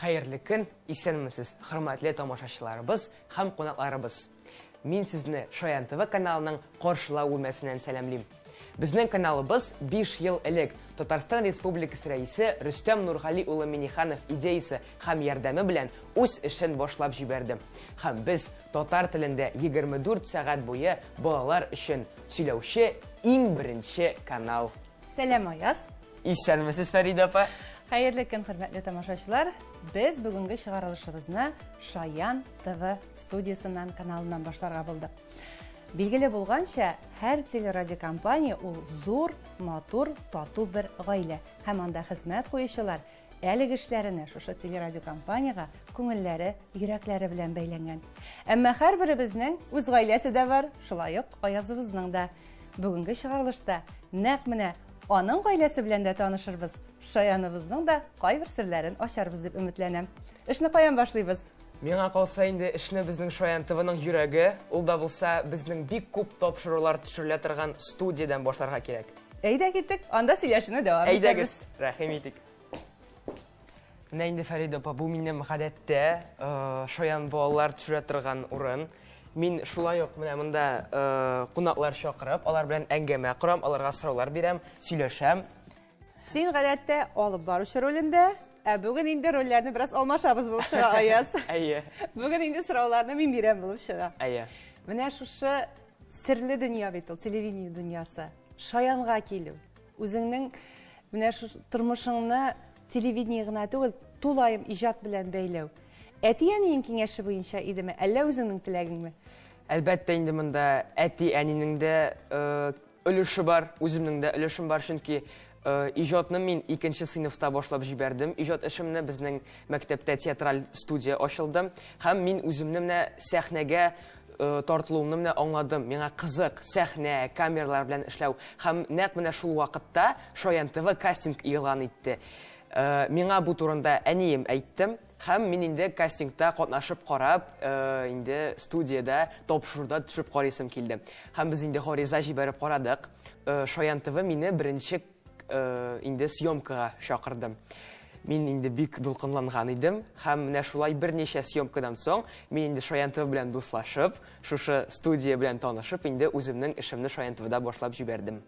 Хәерле көн, исәнмесез, хөрмәтле тамашачыларыбыз һәм кунакларыбыз. Мин сезне Шаян ТВ каналының каршылау бүлмәсеннән сәламлим. Безнең каналыбыз 5 ел элек Татарстан Республикасы Рәисе Рөстәм Нургали улы Миниханов идеясе һәм ярдәме белән үз эшен башлап җибәрде. Һәм без татар телендә 24 сәгать буе балалар өчен сөйләүче иң беренче канал Сәлам, Аяз. Исәнмесез, Фәридә апа. Хәерле көн, хөрмәтле тамашачылар. Без бүгенге чыгарылышыбызны Шаян ТВ студиясеннән каналыннан башларга булдык. Билгеле булганча, һәр телерадиокомпания ул зур, матур, тату бер гаилә. Һәм анда хезмәт куючылар Әлеге эшләренә шушы телерадиокомпаниягә күңелләре, йөрәкләре белән бәйләнгән. Әмма һәрберебезнең үз гаиләсе дә бар, шулай ук Аязыбызның да. Бүгенге чыгарылышта нәкъ менә аның гаиләсе белән дә танышырбыз, Шаяныбызның да кайбер серләрен ачарбыз дип өметләнәм. Эшне каян башлыйбыз? Миңа калса инде эшне безнең Шаян ТВның йөрәге, ул да булса безнең бик күп тапшырулар төшерелә торган студиядән башларга кирәк. Әйдә киттек, анда сөйләшүне дәвам итәбез. Әйдәгез, рәхим итик. Менә инде Фәридә апа, бу минем гадәттә э, шаян балалар төшерә торган урын. Мин шулай ук менә монда э, кунаклар чакырып, алар белән әңгәмә корам, аларга сораулар бирәм, сөйләшәм. Син гадәттә алып баручы ролендә, ә бүген инде рольләрне бераз алмашабыз булып чыга Аяз. Әйе. Бүген инде сорауларны мин бирәм булып чыга. Әйе. Менә шушы Серле дөнья бит ул, телевидение дөньясы. Шаянга килү. Үзеңнең менә шу тормышыңны телевидение гына түгел, тулаем иҗат белән бәйләү. Әти-әниең киңәше буенча идеме, әллә үзеңнең теләгеңме? Әлбәттә инде монда әти-әнинең дә э, өлеше бар, үземнең дә өлешем бар, чөнки Иҗатны мин икенче сыйныфта башлап җибәрдем. Иҗат эшемне безнең мәктәптә театраль студия ачылды. Һәм мин үземне менә сәхнәгә э, тартылуымны менә аңладым. Миңа кызык сәхнә, камералар белән эшләү. Һәм нәкъ менә шул вакытта Шаян ТВ кастинг игълан итте. Э, миңа бу турында әнием әйттем. Һәм мин инде кастингта катнашып карап, инде студиядә тапшыруда төшеп карыйсым килде. Һәм без инде гориза җибәреп карадык. Шаян ТВ мине беренче инде съемкага чакырды. Мин инде бик дулкынланган идем, һәм менә шулай берничә съемкадан соң мин инде Шаян ТВ белән дуслашып, шушы студия белән танышып, инде үземнең эшемне Шаян ТВда башлап җибәрдем.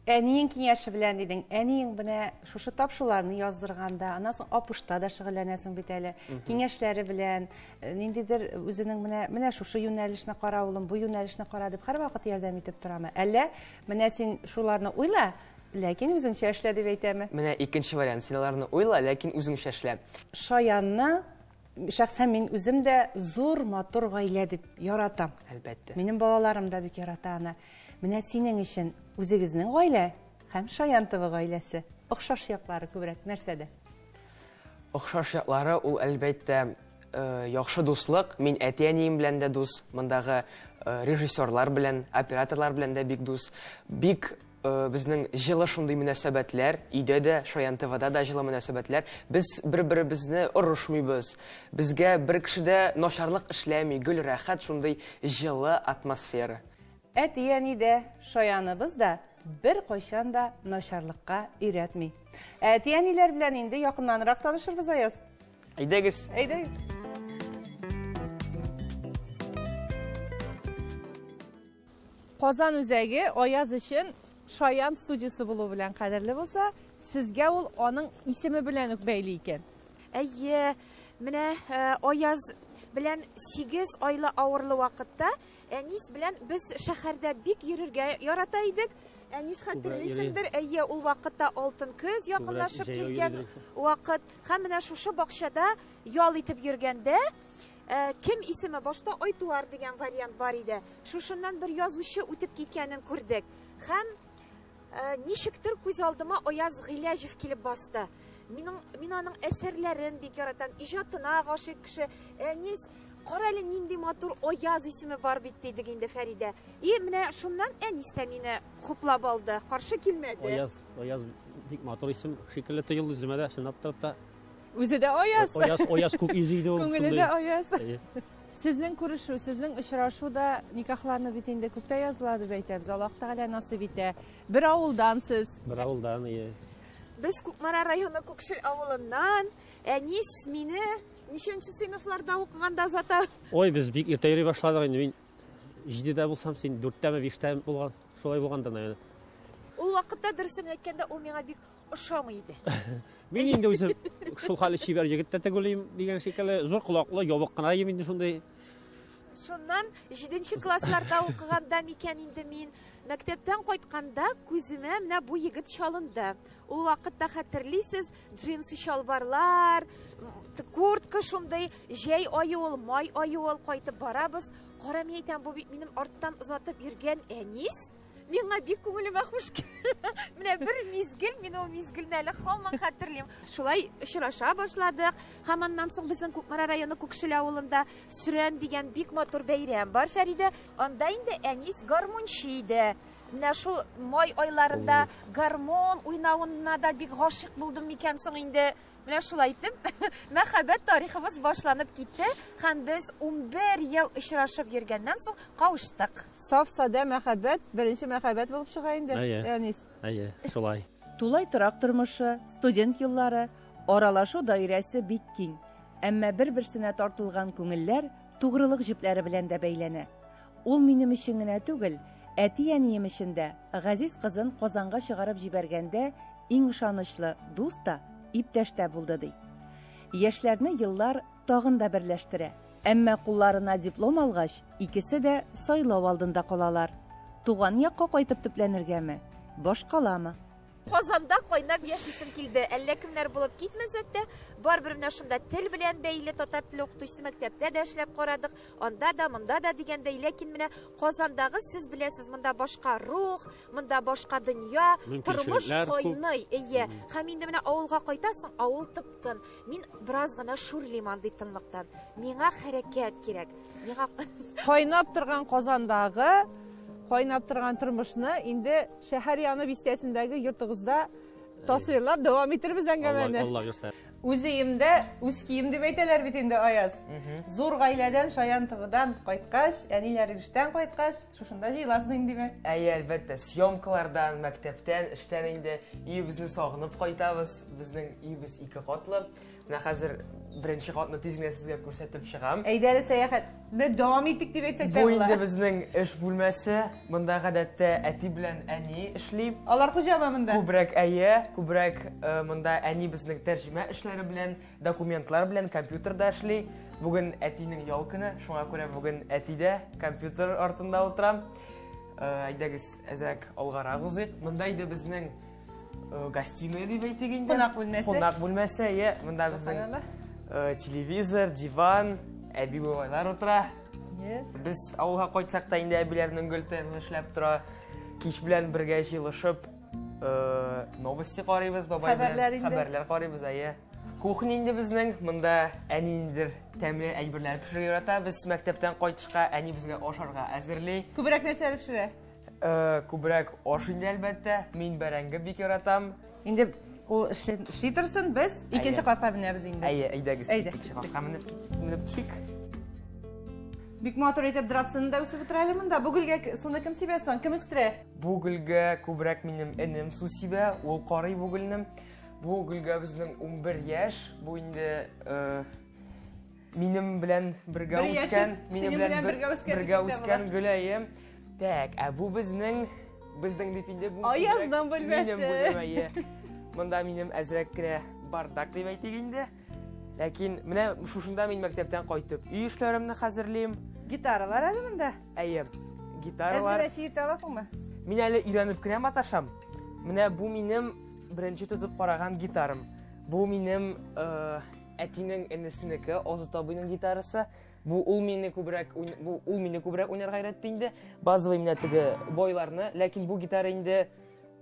Әниең киңәше белән дидең. Әниең менә шушы тапшыруларны яздырганда, аннан соң апушта да шөгыльләнәсең бит әле. Киңәшләре белән, э, ниндидер үзенең менә менә шушы юнәлешне кара улым, бу юнәлешне кара дип һәрвакыт ярдәм итеп торамы? Әллә менә син шуларны уйла, ләкин үзеңчә эшлә дип әйтәме? Менә икенче вариант. Син аларны уйла, ләкин үзеңчә эшлә. Шаянны Шәхсән мин үзем дә зур матур гаилә дип яратам. Әлбәттә. Минем балаларым да бик ярата аны. Менә синең өчен үзегезнең гаилә һәм Шаян тывы гаиләсе. Охшаш яклары күбрәк нәрсәдә? Охшаш яклары ул әлбәттә э, яхшы дуслык. Мин әти-әнием белән дә дус, мондагы э, режиссерлар белән, операторлар белән дә бик дус. Бик Э, безнең җылы шундый мөнәсәбәтләр, өйдә дә, Шаян ТВда да җылы мөнәсәбәтләр. Без бер-беребезне орышмыйбыз. Безгә бер кеше дә начарлык эшләми, гөл рәхәт шундый җылы атмосфера. Әти-әни дә, Шаяныбыз да бер кайчан да начарлыкка өйрәтми. Әти-әниләр белән инде якыннанрак танышырбыз, Аяз. Әйдәгез. Әйдәгез. Казан үзәге Аяз өчен шаян студиясе булу белән кадерле булса, сезгә ул аның исеме белән үк бәйле икән. Әйе, менә э, Аяз белән 8 айлы авырлы вакытта Әнис белән без шәһәрдә бик йөрергә ярата идек. Әнис хәтерлисеңдер, әйе, ул вакытта алтын көз якынлашып килгән вакыт. Һәм менә шушы бакчада ял итеп йөргәндә Ә, кем исеме? Башта Айтуар дигән вариант бар иде. Шушыннан бер язучы үтеп киткәнен күрдек. Һәм ә, ничектер күз алдыма Аяз Гыйләҗев килеп басты. Минем мин аның әсәрләрен бик яратам, иҗатына гашыйк кеше. Әнис, кара әле нинди матур Аяз исеме бар бит дидек инде Фәридә. И менә шуннан Әнис тә мине хуплап алды, каршы килмәде. Аяз, Аяз бик матур исем шикелле тоелды үземә дә, чынлап та. Үзе дә аяз. Аяз, аяз күк йөзе иде ул. Күңеле дә аяз. Сезнең күрешү, сезнең очрашу да никахларны бит инде күктә языла дип әйтәбез. Аллаһ Тәгалә насыйп итә. Бер авылдан сез. Бер авылдан, ие. Без Кукмара районы Күкшел авылыннан. Әнис мине ничәнче сыйныфларда укыганда озата? Ой, без бик иртә йөри башладык инде. Мин җидедә булсам, син дүрттәме, биштәме булган, шулай булганда, наверное. Ул вакытта дөресен әйткәндә, ул миңа бик ошамый иде. Мин инде үзем шул хәле чибәр егет тә түгелем дигән шикелле, зур колаклы, ябык кына ем инде шундый. Шуннан 7 классларда укыганда микән инде мин мәктәптән кайтканда күземә менә бу егет чалынды. Ул вакытта хәтерлисез, джинсы чалбарлар, куртка шундый, җәй айы ул, май айы ул кайтып барабыз. Кара мин әйтәм, бу бит минем арттан озатып йөргән әнис. Миңа бик күңелемә хуш Менә бер мизгел, мин ул мизгелне әле һаман хәтерлим. Шулай очраша башладык. Һәм аннан соң безнең Кукмара районы Күкшел авылында Сүрән дигән бик матур бәйрәм бар, Фәридә. Анда инде әнис гармунчы иде. Менә шул май айларында гармон уйнавына да бик гашык булдым микән соң инде. Менә шулай итеп, мәхәббәт тарихыбыз башланып китте һәм без 11 ел очрашып йөргәннән соң кавыштык. Саф-садә мәхәббәт беренче мәхәббәт булып чыга инде, Әйе. Әнис. Әйе, шулай. Тулай торак тормышы, студент еллары, аралашу даирәсе бик киң. Әмма бер-берсенә тартылган күңелләр тугрылык җепләре белән дә бәйләнә. Ул минем өчен генә түгел, әти-әнием өчен дә, газиз кызын Казанга чыгарып җибәргәндә иң ышанычлы дус та, иптәш тә булды, ди. Яшьләрне еллар тагын да берләштерә. Әмма кулларына диплом алгач, икесе дә сайлау алдында калалар. Туган якка кайтып төпләнергәме, башкаламы? Казанда кайнап яшисем килде. Әллә кемнәр булып китмәсәк тә, барыбер менә шунда тел белән бәйле татар теле укытучысы мәктәптә дә эшләп карадык, анда да, монда да дигәндәй, ләкин менә Казандагы сез беләсез, монда башка рух, монда башка дөнья, тормыш кайный, әйе. Һәм инде менә авылга кайтасың, авыл тып-тын. Мин бераз гына шүрлим андый тынлыкта. Миңа хәрәкәт кирәк. Миңа кайнап торган Казандагы кайнап торган тормышны инде шәһәр яны бистәсендәге йортыгызда тасвирлап дәвам итәрбез әңгәмәне. Алла бирсә. Үз өемдә үз кием дип әйтәләр бит инде Аяз. Зур гаиләдән Шаян Тыгыдан кайткач, әниләр эштән кайткач, Шушында җыеласыз инде, димәк. Әйе, әлбәттә, съемкалардан, мәктәптән, эштән инде өебезне сагынып кайтабыз. Безнең өебез ике катлы. Менә хәзер беренче катны тиз генә сезгә күрсәтеп чыгам. Әйдә әле сәяхәтне дәвам итик дип әйтсәк тә Бу инде безнең эш бүлмәсе. Монда гадәттә әти белән әни эшли. Алар хуҗамы монда? Күбрәк әйе, күбрәк э, монда әни безнең тәрҗемә эшләре белән Документлар белән компьютер да эшли. Бүген әтинең ял көне, шуңа күрә бүген әтидә компьютер артында утырам. Э, әйдәгез, әзрәк алгарак узыйк. Монда иде безнең э, гостиная дип әйтик инде. Кунак бүлмәсе. Кунак бүлмәсе, иә. Монда безнең э, телевизор, диван, әби бабайлар утыра. Без авылга кайтсак та инде әбиләрнең гөл тәнен эшләп тора. Кич белән бергә җыелышып, Э, новости карыйбыз бабай белән хәбәрләр карыйбыз әйе кухня инде безнең монда әни ниндидер тәмле әйберләр пешерә ярата без мәктәптән кайтышка әни безгә ашарга әзерли күбрәк нәрсәләр пешерә э, күбрәк аш инде әлбәттә мин бәрәңге бик яратам инде ул эшли торсын без икенче катка менәбез инде әйе әйдәгез икенче катка менеп менеп төшик бик матур итеп драцины да үсеп утыра әле монда бу гөлгә суны кем сибә соң кем үстерә Бу гөлгә күбрәк минем энем су сибә, ул карый бу гөлне. Бу гөлгә безнең 11 яшь, бу инде э, минем белән бергә Бер яшен үскән, минем синең белән белән бер- бергә үскән бергә егет тә үскән гөләем. Так, ә бу безнең безнең дип инде бу Аязның күбрәк бүлмәсе. Минем бүлмә, иә. Монда минем әзрәк кенә бардак дип әйтик инде. Ләкин менә шушында мин мәктәптән кайтып өй эшләремне хәзерлим. Гитаралар әле монда? Әйе. Гитаралар. Әзер чиертә аласыңмы? Мин әле өйрәнеп кенә маташам. Менә бу минем беренче тотып караган гитарам. Бу минем э, әтинең энесенеке, Озат абыйның гитарасы. Бу ул мине күбрәк бу ул мине күбрәк уйнарга өйрәтте инде. Базовый менә теге бойларны, ләкин бу гитара инде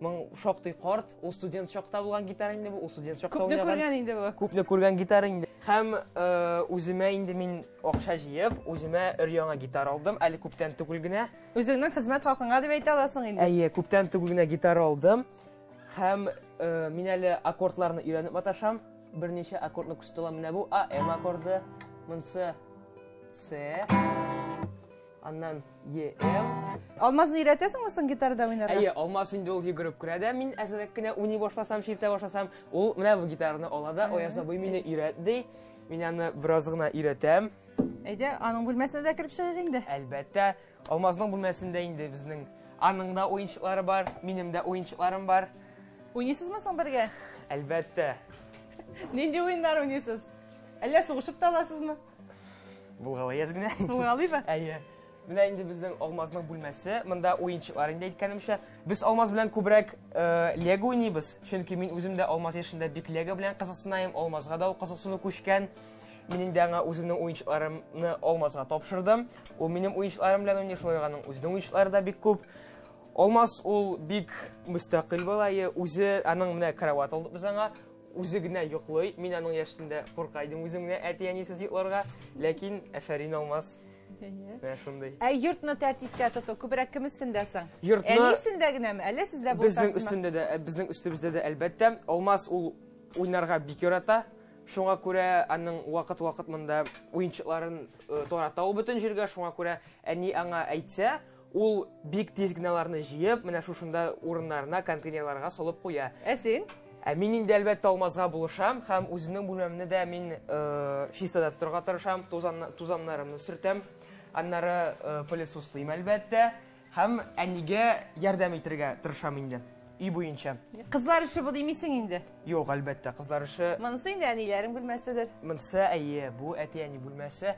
Моң шактый карт, ул студент чакта булган гитара инде бу, ул студент чакта Күпне уйнаган. күргән инде бу. Күпне күргән гитара инде. Һәм э, үземә инде мин акча җыеп, үземә өр-яңа гитара алдым, әле күптән түгел генә. Үзеңнең хезмәт хакыңа дип әйтә аласың инде. Әйе, күптән түгел генә гитара алдым. Һәм э, мин әле аккордларны өйрәнеп маташам. Берничә аккордны күрсәтә алам. Менә бу А, М аккорды, монысы С. Аннан ЕМ. Алмазны өйрәтәсеңме соң гитарада уйнарга? Әйе, Алмаз инде ул йөгереп керә дә, мин әзрәк кенә уйный башласам, чиртә башласам, ул менә бу гитараны ала да, Аяз абый мине өйрәт ди. Мин аны бераз гына өйрәтәм. Әйдә, аның бүлмәсенә дә кереп чыгыйк инде. Әлбәттә, Алмазның бүлмәсендә инде безнең аның да уенчыклары бар, минем дә уенчыкларым бар. Уйныйсызмы соң бергә? Әлбәттә. Нинди уеннар уйныйсыз? Әллә сугышып та аласызмы? Булгалыйбыз генә. Булгалыйбы? Әйе. Менә инде безнең Алмазның бүлмәсе. Монда уенчыклар инде әйткәнемчә. Без Алмаз белән күбрәк э, Лего уйныйбыз, чөнки мин үзем дә Алмаз яшендә бик Лего белән кызыксынайым, Алмазга да ул кызыксыну күчкән. Минем дә аңа үземнең уенчыкларымны Алмазга тапшырдым. Ул минем уенчыкларым белән уйный, шулай аның үзенең уенчыклары да бик күп. Алмаз ул бик мөстәкыйль балае, үзе аның менә кровать алдык без аңа. Үзе генә йоклый. Мин аның яшендә курка идем үзем генә әти-әнисез йокларга. Ләкин әфәрин Алмаз. Менә шундый. Ә йортны тәртипкә тоту күбрәк кем өстендә соң? Йортны- Әни өстендә генәме? Әллә сездә булса? Безнең өстендә дә, ә, безнең өстебездә дә әлбәттә. Алмаз ул уйнарга бик ярата. Шуңа күрә аның вакыт-вакыт монда уенчыкларын э, тарата ул бөтен җиргә. Шуңа күрә әни аңа әйтсә, Ул бик тиз генә аларны җыеп, менә шушында урыннарына контейнерларга салып куя. Ә син? Ә мин инде әлбәттә алмазга булышам һәм үземнең бүлмәмне дә мин э, чистада тотарга тырышам, тузан, тузаннарымны сөртәм, аннары э, пылесослыйм әлбәттә һәм әнигә ярдәм итергә тырышам инде өй буенча. Кызлар эше бу димисең инде. Юк, әлбәттә, кызлар эше. Монысы инде әниләрең бүлмәседер. Монысы әйе, бу әти-әни бүлмәсе.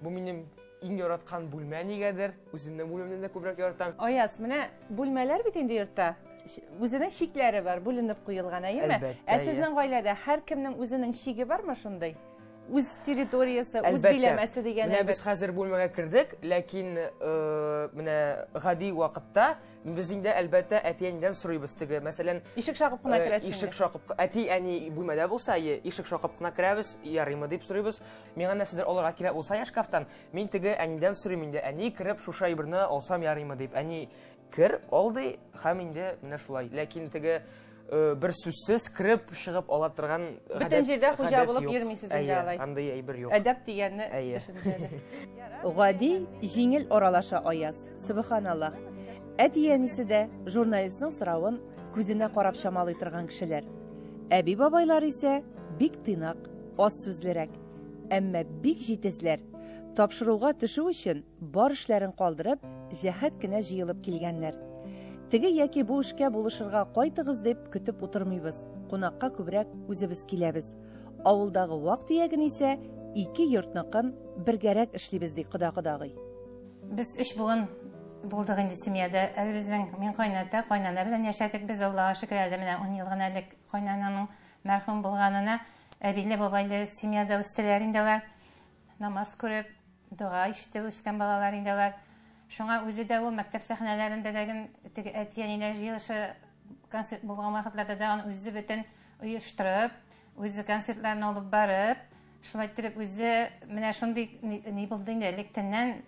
Бу минем иң яраткан бүлмә нигәдер. Үземнең бүлмәмне дә күбрәк яратам. Аяз, менә бүлмәләр бит инде йортта. Ш- Үзенең шикләре бар, бүленеп куелган, әйеме? Әлбәттә, Ә иә. сезнең гаиләдә һәркемнең үзенең шиге бармы шундый? Үз территориясе, үз Әлбәттә. биләмәсе дигән Менә без әйбер. хәзер бүлмәгә кердек, ләкин э, менә гади вакытта без инде әлбәттә әти-әнидән сорыйбыз теге. Мәсәлән, Ишек шакып кына э, керәсең. ишек шакып, әти-әни бүлмәдә булса, е, ишек шакып кына керәбез, ярыймы дип сорыйбыз. Миңа нәрсәдер алырга кирәк булса я шкафтан, мин теге әнидән сорыйм инде, әни кереп шушы әйберне алсам ярыймы дип. Әни кер, ал ди, һәм инде менә шулай. Ләкин теге э, бер сүзсез кереп чыгып ала торган Бөтен җирдә хуҗа булып йөрмисез инде Әйе, алай. Андый әйбер юк. Әдәп дигәнне Әйе. төшендерде. Гади, җиңел аралаша Аяз. Субханаллах. Әти-әнисе дә журналистның соравын күзенә карап чамалый торган кешеләр. Әби-бабайлар исә бик тыйнак, аз сүзлерәк, әмма бик җитезләр. Тапшыруга төшү өчен бар эшләрен калдырып, җәһәт кенә җыелып килгәннәр. Теге яки бу эшкә булышырга кайтыгыз дип көтеп утырмыйбыз, кунакка күбрәк үзебез киләбез. Авылдагы вак төяген исә ике йортныкын бергәрәк эшлибез, ди кода кодагый. Без өч буын булдык инде семьяда. Әле безнең мин кайната, кайнана белән яшәдек без, Аллага шөкер, әле менә ун ел гына элек кайнананың Мәрхүм булганына әбиле бабайлы семьяда үстеләр инде алар. Намаз күреп, дога ишетеп үскән балалар инде алар. Шуңа үзе дә ул мәктәп сәхнәләрендә дә гел теге әти-әниләр җыелышы концерт булган вакытларда да аны үзе бөтен оештырып, үзе концертларын алып барып, шулай иттереп үзе менә шундый ни, ни булды инде электәннән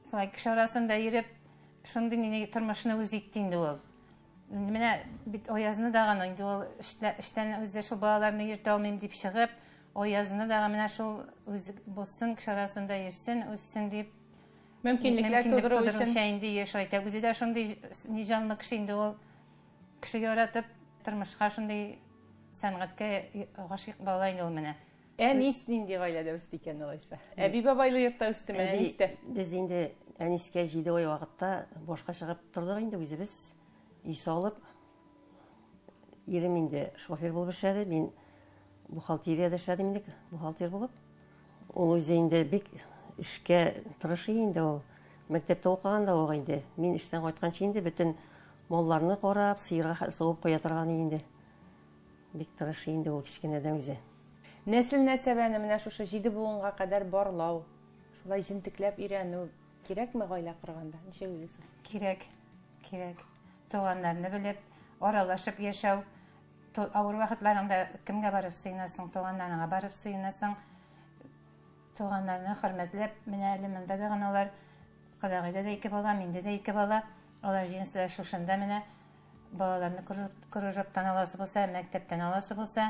шулай кеше арасында йөреп, шундый ни тормышны үзе итте инде ул. Менә бит Аязны дага инде ул эштән үзе шул балаларны йөртә алмыйм дип чыгып, Аязны дага менә шул үз булсын, кеше арасында йөрсен, үссен дип мөмкинлекләр тудыру өчен инде еш әйтә. Үзе дә шундый ни җанлы кеше инде ул. Кеше яратып, тормышка шундый сәнгатькә гашыйк бала инде ул менә. Әнис нинди гаиләдә үсте икән алайса? Әби-бабайлы йортта үстеме Әнис тә? Без инде Әнискә җиде ай вакытта башка чыгып тордык инде үзебез. Өй салып, ирем инде шофер булып эшләде, мин бухгалтериядә эшләдем инде, бухгалтер булып. Ул үзе инде бик эшкә тырыш инде ул. Мәктәптә укыган да ул инде. Мин эштән кайтканчы инде бөтен малларны карап, сыерга суып куя торган инде. Бик тырыш инде ул кечкенәдән үзе. Нәсел-нәсәбәне менә шушы җиде буынга кадәр барлау, шулай җентекләп өйрәнү кирәкме гаилә корганда? Ничек уйлыйсыз? Кирәк, кирәк. Туганнарны белеп, аралашып яшәү. Авыр вакытларыңда кемгә барып сыенасың? Туганнарыңа барып сыенасың. Туганнарны хөрмәтләп, менә әле монда да гына алар, кодагыйда да ике бала, миндә дә ике бала. Алар җинесләре шушында менә. Балаларны кружоктан аласы булса, мәктәптән аласы булса,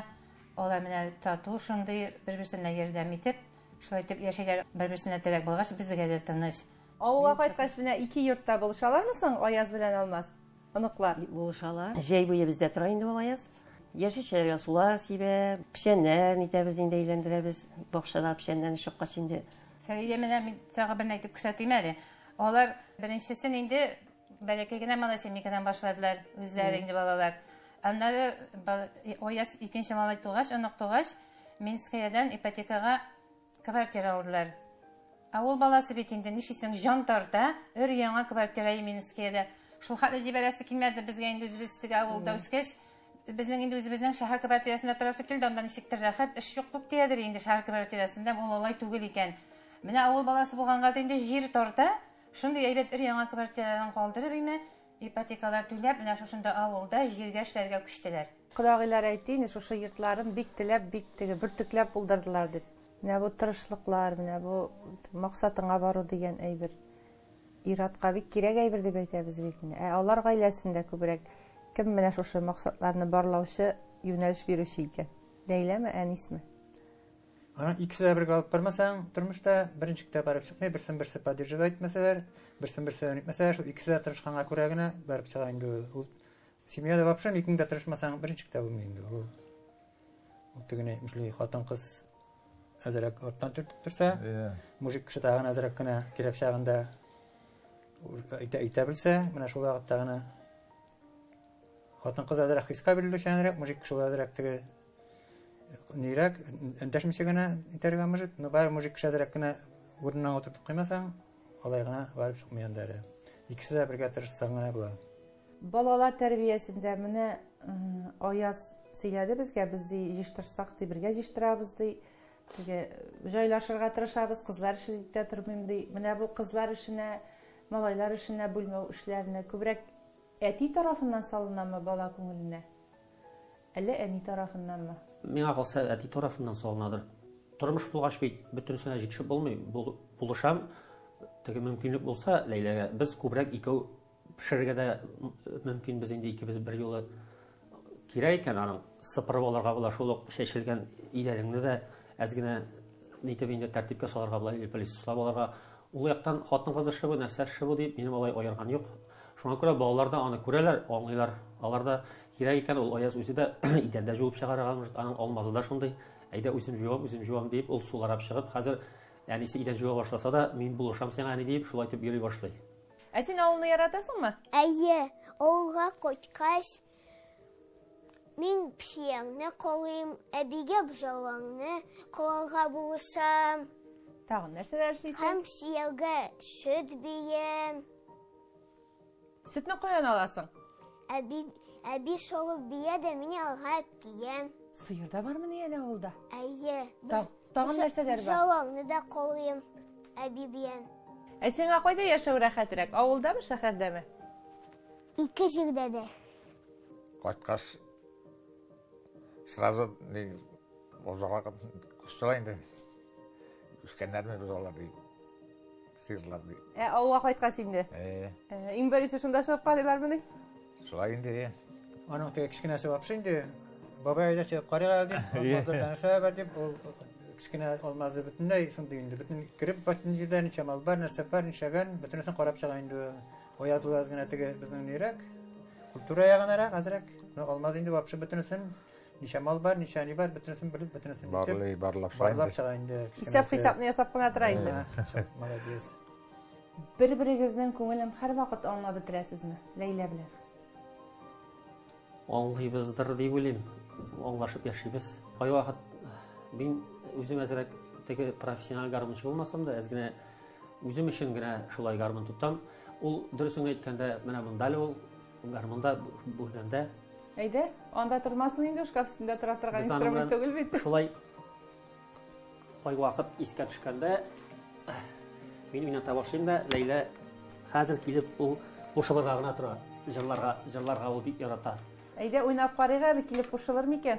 алар менә тату шундый бер-берсенә ярдәм итеп, шулай итеп яшәйләр. Бер-берсенә терәк булгач, безгә дә тыныч. Авылга кайткач менә ике йортта булышалармы соң Аяз белән Алмаз? Оныклар. Булышалар. Җәй буе бездә тора инде ул Аяз. Яшелчәләргә сулар сибә, печәннәрен итәбез инде, әйләндерәбез. Бакчада печәннәрне чыккач инде. Фәридә менә мин тагы берне әйтеп күрсәтим әле. Алар беренчесен инде Бәләкәй генә малай семейкадан башладылар үзләре инде балалар. Аннары Ояс икенче малай тугач, онык тугач, Минскаядән ипотекага квартира алдылар. Ә ул баласы бит инде нишисең, җан тарта, өр яңа квартира Минскаядә. Шул хәтле җибәрәсе килмәде безгә инде үзебез теге авылда үскәч, безнең инде үзебезнең шәһәр квартирасында торасы килде, анда ничектер рәхәт, эш юк күп диядер инде шәһәр квартирасында, ул алай түгел икән. Менә авыл баласы булганга инде җир тарта, Шундый әйбәт өр-яңа квартираларын калдырып име, ипотекалар түләп, менә шушында авылда җиргә эшләргә күчтеләр. Кодагыйлар әйтте инде, шушы йортларын бик теләп, бик теге, бөртекләп булдырдылар дип. Менә бу тырышлыклар, менә бу максатыңа бару дигән әйбер ир-атка бик кирәк әйбер дип әйтәбез бит менә. Ә алар гаиләсендә күбрәк кем менә шушы максатларны барлаучы, юнәлеш бирүче икән? Ләйләме, Әнисме? Анан икесе дә бергә алып бармасаң, тормышта беренче китап барып чыкмый, берсен берсе поддерживать итмәсәләр, берсен берсе итмәсәләр, шул икесе дә тырышканга күрә генә барып чыга инде ул. Семьяда вообще икең дә тырышмасаң, беренче китап булмый инде ул. Ул тегене әйтмешли, хатын-кыз әзрәк арттан төртеп торса, иә. мужик кеше тагын әзрәк кенә кирәк чагында әйтә, әйтә белсә, менә шул вакытта гына хатын-кыз әзрәк хискә бирелүчәнрәк, мужик кеше әзрәк теге Нирәк, эндәшмичә генә итәргә может, но бары мужик шәзрәк кенә урынына утыртып куймасаң, алай гына барып чыкмый анда әле. Икесе дә бергә тырышсаң гына була. Балалар тәрбиясендә менә Аяз сөйләде безгә, без ди җыштырсак ди, бергә җыштырабыз ди. Теге җайлашырга тырышабыз, кызлар эше дип тә тормыйм ди. Менә бу кызлар эшенә, малайлар эшенә бүлмәү эшләренә күбрәк әти тарафыннан салынамы бала күңеленә? Әллә әни тарафыннанмы? Миңа калса, әти тарафыннан салынадыр. Тормыш булгач бит, бөтенесенә җитешеп булмый. Булышам, теге мөмкинлек булса, Ләйләгә, без күбрәк икәү пешерергә дә мөмкин без инде икебез бер юлы. Кирәк икән аның сыпырып алырга була, шул ук чәчелгән идәнеңне дә әз генә нитеп инде тәртипкә салырга була, или пылесослап алырга. Ул яктан хатын-кыз эше бу, нәрсә эше бу дип, минем алай аерган юк. Шуңа күрә балалар да аны күрәләр, аңлыйлар. Алар да Кирәк икән, ул Аяз үзе дә идәндә җуып чыгарырга, может, аның алмазы да шундый. Әйдә, үзем җуам, үзем җуам дип, ул суларап чыгып, хәзер әнисе идән җуа башласа да, мин булышам сиңа, әни, дип, шулай итеп йөри башлый. Ә син авылны яратасыңмы? Әйе, авылга кайткач, мин псиеңне калыйм, әбигә бжалаңны калырга булышам. Тагын нәрсәләр эшлисең? Һәм псиягә сөт бием. Сөтне каян аласың? Әби, әби шавыл бия дә мин алга киям. Сыер да бармыни әле авылда? Әйе. Та, тагын нәрсәләр бар? Шавылны да каулыйм әби биян. Ә сиңа кайда яшәү рәхәтрәк, авылдамы, шәһәрдәме? Ике җирдә дә. Кайткач сразу ни озак кушсалар инде. Үскәннәрме без алар дип. Сыйрлар ди. Ә авылга кайткач инде. Э. Э, иң беренче шунда чыгып карыйлар мени? Шулай инде. Аның теге кечкенәсе вообще инде бабай әйдә чыгып карыйга дип, алмазда таныша бар дип, ул кечкенә алмазы бөтенләй шундый инде, бөтен кереп бөтен җирдә ничә мал бар, нәрсә бар, ничәгән, бөтенесен карап чыга инде. Оятылаз гына теге безнең нирәк, культура ягынарак, азрак. Но алмаз инде вообще бөтенесен Ничә мал бар, ничә ни бар, бөтенесен белеп, бөтенесен итеп. Барлый, барлап чыга инде. Барлап чыга инде. Исәп хисапны ясап кына тора инде. Молодец. Бер-берегезнең күңелен һәрвакыт аңлап бетерәсезме? Ләйлә белән. Аңлыйбыздыр дип уйлыйм. Аңлашып яшибез. Кайвакыт мин үзем әзрәк теге профессиональ гармунчы булмасам да, әз генә үзем өчен генә шулай гармун тотам. Ул дөресен әйткәндә, менә монда ул Гармунда бу һөнәрдә Әйдә, анда тормасын инде шкаф өстендә тора торган инструмент түгел бит. Шулай кай вакыт искә төшкәндә мин уйната башлыйм да Ләйлә хәзер килеп ул кушылырга гына тора. Җырларга, җырларга ул бик ярата. Әйдә уйнап карыйк әле килеп кушылыр микән?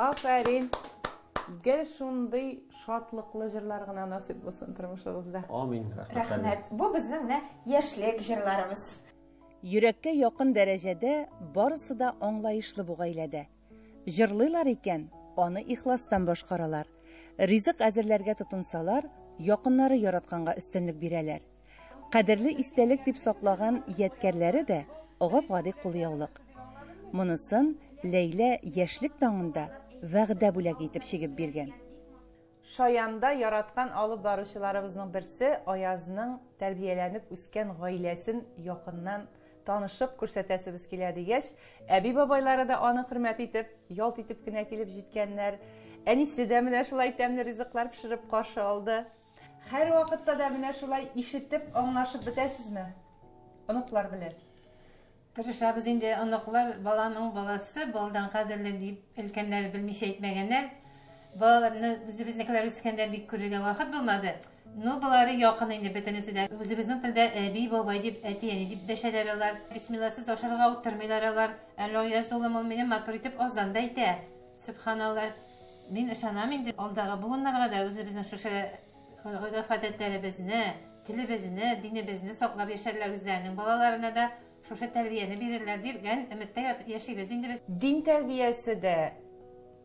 Афәрин! Гел шундый шатлыклы җырлар гына насыйп булсын тормышыгызда. Амин. Рәхмәт. Бу безнең менә яшьлек җырларыбыз. Йөрәккә якын дәрәҗәдә барысы да аңлаешлы бу гаиләдә. Җырлыйлар икән, аны ихластан башкаралар. Ризык әзерләргә тотынсалар, якыннары яратканга өстенлек бирәләр. Кадерле истәлек дип саклаган ядкәрләре дә, гап-гади кулъяулык. Монысын Ләйлә яшьлек таңында вәгъдә бүләге итеп чигеп биргән. Шаянда яраткан алып баручыларыбызның берсе Аязның тәрбияләнеп үскән гаиләсен якыннан танышып күрсәтәсебез килә, дигәч, әби-бабайлары да аны хөрмәт итеп, ялт итеп кенә килеп җиткәннәр. Әнисе дә менә шулай тәмле ризыклар пешереп каршы алды. Һәрвакытта да менә шулай ишетеп, аңлашып бетәсезме оныклар белән? Тырышабыз инде, оныклар, баланың баласы, баладан кадерле дип, өлкәннәр белмичә әйтмәгәннәр. Балаларны үзебезнекеләр үскәндә бик күрергә вакыт булмады. Ну, болары якын инде бөтенесе дә. Үзебезнең телдә әби, бабай дип, әти, әни дип дәшәләр алар. Бисмилласыз ашарга утырмыйлар алар. Әллә яз улым ул минем матур итеп азан да әйтә. Сөбханалла. Мин ышанам инде алдагы буыннарга да үзебезнең шушы Гореф-гадәтләребезне, телебезне, динебезне саклап яшәрләр, үзләренең балаларына да шушы тәрбияне бирерләр дигән өметтә яшибез инде без. Дин тәрбиясе дә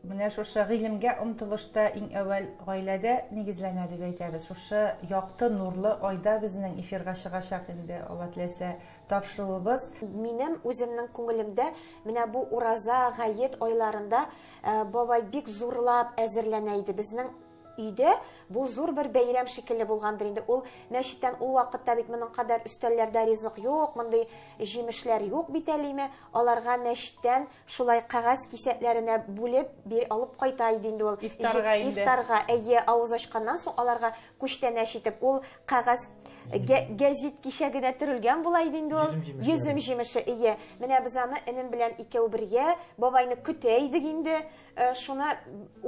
менә шушы гыйлемгә омтылышта иң әүвәл гаиләдә нигезләнә дип әйтәбез. Шушы якты нурлы айда безнең эфирга чыгачак инде Алла теләсә тапшыруыбыз. Минем үземнең күңелемдә менә бу Ураза, Гает айларында э, бабай бик зурлап әзерләнә иде. Безнең Өйдә бу зур бер бәйрәм шикелле булгандыр инде. Ул мәчеттән ул вакытта бит моның кадәр өстәлләрдә ризык юк, мондый җимешләр юк бит әлеме. Аларга мәчеттән шулай кәгазь кисәкләренә бүлеп бир алып кайта иде инде ул. Ифтарга инде. Ифтарга, әйе, авыз ачканнан соң аларга күчтәнәч итеп ул кәгазь гәзит кишәгенә төрелгән була иде инде ул. Йөзем җимеше, әйе. Менә без аны энем белән икәү бергә бабайны көтә идек инде. Э, шуны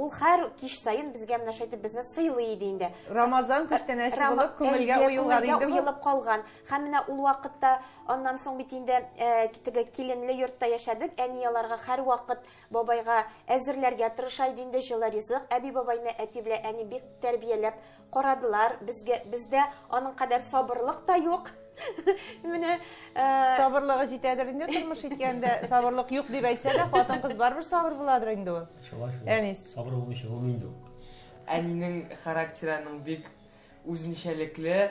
ул һәр кич саен безгә менә шайтып безне сыйлый иде инде рамазан күчтәнәче э, булып күңелгә уелган инде уелып калган һәм менә ул вакытта аннан соң бит инде э, теге киленле йортта яшәдек әни аларга һәр вакыт бабайга әзерләргә тырыша иде инде җылы ризык әби бабайны әти белән әни бик тәрбияләп Карадылар, безгә бездә аның кадәр сабырлык та юк. Менә э, сабырлыгы җитәдер инде тормыш иткәндә, сабырлык юк дип әйтсә дә, хатын-кыз барыбер сабыр буладыр инде ул. Шулай шул. Әнис. Сабыр булмыйча булмый инде ул. Әнинең характерының бик үзенчәлекле,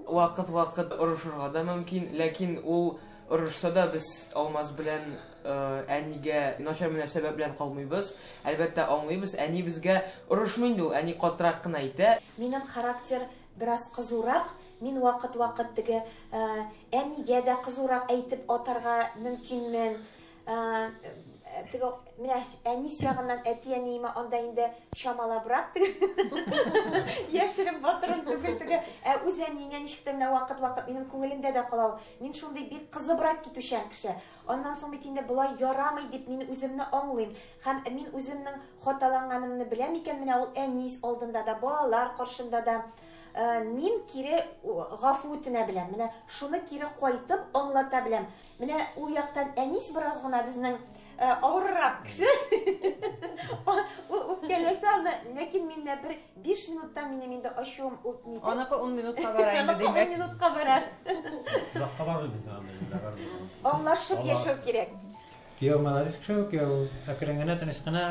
вакыт-вакыт орышырга да мөмкин, ләкин ул орышса да без Алмаз белән әнигә начар мөнәсәбәт белән калмыйбыз. Әлбәттә, аңлыйбыз, әни безгә орышмый инде ул, әни катырак кына әйтә. Минем характер бераз кызурак, мин вакыт-вакыт теге әнигә дә кызурак әйтеп атарга мөмкинмен. Теге менә әнис ягыннан әти-әниемә анда инде чамалабрак теге. Яшереп батырын түгел теге. Ә үз әниеңә ничек тә менә вакыт-вакыт минем күңелемдә дә кала ул. Мин шундый бик кызыбрак китүчән кеше. Аннан соң бит инде болай ярамый дип мин үземне аңлыйм. Һәм мин үземнең хаталанганымны беләм икән, менә ул әнис алдында да, балалар каршында да. Э, мин кире гафу үтенә беләм. Менә шуны кире кайтып аңлата беләм. Менә ул яктан әнис бераз гына безнең э, авыррак кеше. Ул үпкәләсә, ләкин миндә бер Биш минутта минем инде ачуым үтми. Аныкы ун минутка бара инде димәк. Аныкы ун минутка бара. Озакка бармый безнең анда инде бармый. Аңлашып яшәү кирәк. Кияү молодец кеше, кияү әкрен генә, тыныч кына.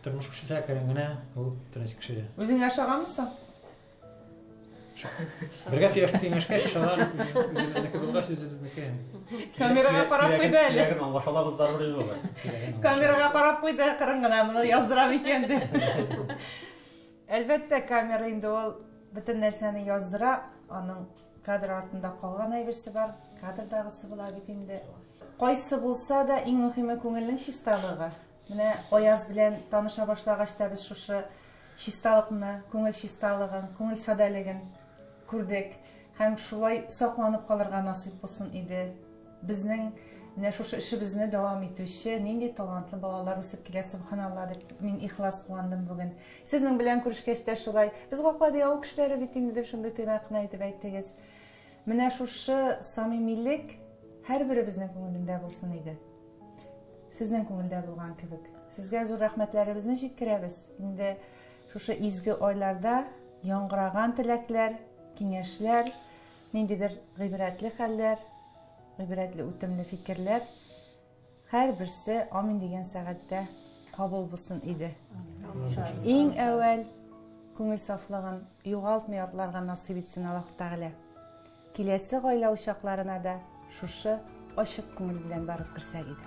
Тормыш кешесе әкрен генә, ул тыныч кеше. Үзең ашаганмысың? Бергә сөйләшеп киңәшкәч, шалар үзебезнеке булгач, үзебезнеке. Камерага карап куйды әле. Ягын аңлаша алабыз барыбер инде алар. Камерага карап куйды, кырын гына моны яздырам икән дип. Әлбәттә, камера инде ул бөтен нәрсәне яздыра, аның кадр артында калган әйберсе бар, кадрдагысы була бит инде. Кайсы булса да иң мөһиме күңелнең чисталыгы. Менә Аяз белән таныша башлагач та без шушы чисталыкны, күңел чисталыгын, күңел садәлеген күрдек. Һәм шулай сакланып калырга насыйп булсын иде. Безнең менә шушы эшебезне дәвам итүче нинди талантлы балалар үсеп килә, субханалла дип мин ихлас куандым бүген. Сезнең белән күрешкәч тә шулай. Без гаклади авыл кешеләре бит инде дип шундый тыйнак кына итеп әйттегез. Менә шушы самимилек һәрберебезнең күңелендә булсын иде. Сезнең күңелдә булган кебек. Сезгә зур рәхмәтләребезне җиткерәбез. Инде шушы изге айларда яңгыраган теләкләр, киңәшләр, ниндидер гыйбрәтле хәлләр, гыйбрәтле үтемле фикерләр Һәрберсе амин дигән сәгатьтә кабул булсын иде. Иң әүвәл күңел сафлыгын югалтмый атларга насыйп итсен Аллаһ Тәгалә. Киләсе гаилә учакларына да шушы ачык күңел белән барып керсәк иде.